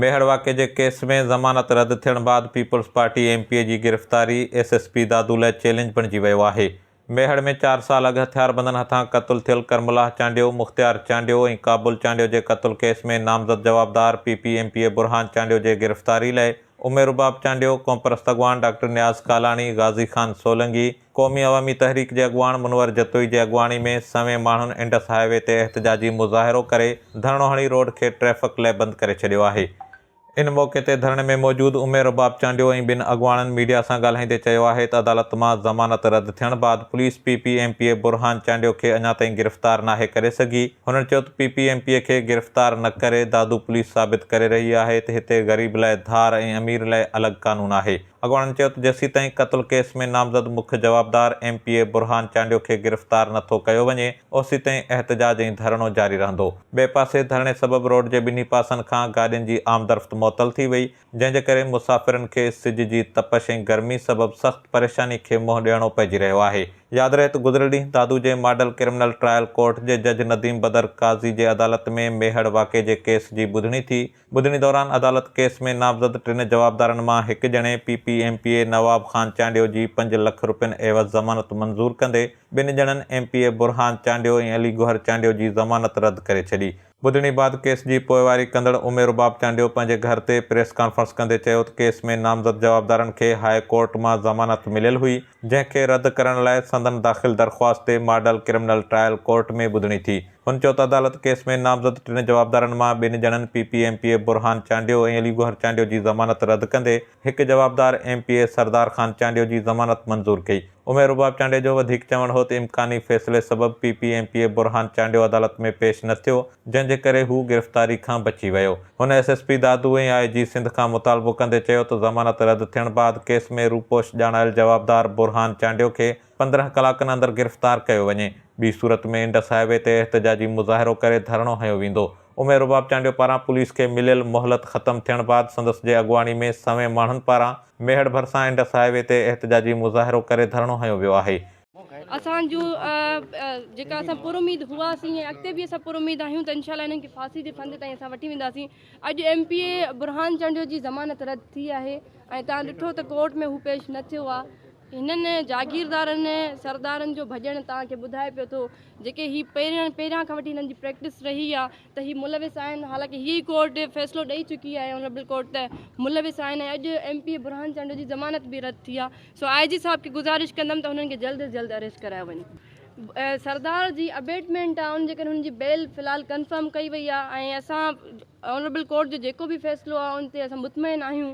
ميهڙ واقعي جي ڪيس ۾ ضمانت رد ٿيڻ بعد People's Party M P A جي گرفتاري ايس ايس پي دادو لاء چئلينج بڻجي ويو آهي. ميهڙ ۾ چار سال اڳ هٿياربندن هٿان قتل ٿيل ڪرملاح چانڊيو، مختيار چانڊيو ۽ ڪابل چانڊيو جي قتل ڪيس ۾ نامزد جوابدار P P M P A Burhan Chandio جي گرفتاري لاء اميد رباب چانڊيو، قومپرست اڳواڻ ڊاڪٽر نياز ڪالاڻي، غازي خان سولنگي، قومي عوامي تحريڪ جي اڳواڻ منور جتوئي جي اڳواڻي ۾ سوين ماڻهن انڊس هاء وي تي احتجاجي مظاهرو ڪري ڌرڻو هڻي روڊ کي ٽريفڪ لئه بند ڪري ڇڏيو آهي. ان موقعي تي ڌرڻي ۾ موجود امير رباب چانڊيو ۽ ٻن اڳواڻن ميڊيا سان ڳالهائيندي چيو آهي ته عدالت مان ضمانت رد ٿيڻ بعد police P P M P A Burhan Chandio کي اڃا تائين گرفتار ناهي ڪري سگهي هنن چيو ته P P M P A کي گرفتار نه ڪري دادو پوليس ثابت ڪري رهي آهي ته هتي غريب لئه ڌار ۽ امير لئه الڳ قانون آهي اڳواڻن چيو ته جيسيتائين قتل ڪيس ۾ نامزد مک جوابدار M P A Burhan Chandio کي گرفتار نٿو ڪيو وڃي اوسيتائين احتجاج ۽ ڌرڻو جاري رهندو. ٻئي پاسي ڌرڻي سبب روڊ جي ٻنهي پاسن کان گاڏين جي آمدرفت معطل ٿي وئي جنهن جي ڪري مسافرن کي سج جي تپش ۽ گرمي سبب سخت پريشاني کي منهن ڏيڻو پئجي رهيو آهي. ياد رهي ته گذريل ڏينهن دادو جي ماڊل ڪرمنل ٽرائل ڪورٽ جي جج نديم بدر قاضي جي عدالت ۾ ميهڙ واقعي جي ڪيس جي ٻڌڻي ٿي ٻڌڻي دوران عدالت ڪيس ۾ نامزد ٽن جوابدارن مان هڪ ڄڻي P P M P A Nawab Khan Chandio جي پنج لک رپين عيوض ضمانت منظور ڪندي ٻن ڄڻن M P A Burhan Chandio ۽ Ali Gohar Chandio جي ضمانت رد ڪري ڇڏي. ٻڌڻي بعد ڪيس جي پوئواري ڪندڙ امير رباب چانڊيو پنهنجي گهر تي پريس ڪانفرنس ڪندي چيو ته ڪيس ۾ نامزد جوابدارن کي هاء ڪورٽ مان ضمانت مليل هئي جنهن کي رد ڪرڻ لاء سندن داخل درخواست تي ماڊل ڪرمنل ٽرائل ڪورٽ ۾ ٻڌڻي ٿي هن چيو ته عدالت ڪيس ۾ نامزد ٽن جوابدارن مان ٻن ڄڻن P P M P A Burhan Chandio ۽ Ali Gohar Chandio جي ضمانت رد ڪندي هڪ جوابدار M P A Sardar Khan Chandio جي ضمانت منظور ڪئي. امير رباب چانڊيو جو وڌيڪ چوڻ هو ته امڪاني فيصلي سبب P P M P A Burhan Chandio عدالت ۾ پيش نه ٿيو جنهن جي ڪري هو گرفتاري کان بچي ويو. هن S S P Dadu ۽ I G Sindh کان مطالبو ڪندي چيو ته ضمانت رد ٿيڻ بعد ڪيس ۾ روپوش ڄاڻايل جوابدار برهان چانڊيو کي پندرهن ڪلاڪن اندر گرفتار ڪيو وڃي، ٻي صورت ۾ انڊس هاء وي تي احتجاجي مظاهرو ڪري ڌرڻو هنيو ويندو. عمير رباب چانڊيو پاران پوليس کي مليل مهلت ختم ٿيڻ بعد سندس جي اڳواڻي ۾ سوين ماڻهن پاران ميهڙ ڀرسان انڊس هاء وي تي احتجاجي مظاهرو ڪري ڌرڻو هنيو ويو آهي. اسان جون جيڪا اسان پر اميد هئاسين ۽ اڳتي به اسان پر اميد آهيون ته انشاء الله انهن کي ڦاسي جي ڦند تائين اسان وٺي وينداسين. اڄ M P A Burhan Chandio جي ضمانت رد ٿي آهي ۽ توهان ڏٺو ته ڪورٽ ۾ هو پيش نه ٿيو آهي. هنن جاگيردارن سردارن جو ڀڄڻ توهان کي ٻڌائي پيو ٿو جيڪي هي پهرين پهريان کان وٺي هنن جي پريڪٽس رهي آ ته هي ملوث آهن حالانڪه هيء ئي ڪورٽ فيصلو ڏئي چڪي آهي آنريبل ڪورٽ ته ملوث آهن ۽ اڄ ايم پي اي برهان چنڊ جي ضمانت به رد ٿي آ سو آء جي صاحب کي گذارش ڪندم ته هنن کي جلد از جلد اريسٽ ڪرايو وڃي سردار جي ابيٽمينٽ آ ان جي ڪري هنن جي بيل في الحال ڪنفرم ڪئي وئي آ ۽ اسان آنريبل ڪورٽ جو جيڪو به فيصلو آ ان تي اسان مطمئن آهيون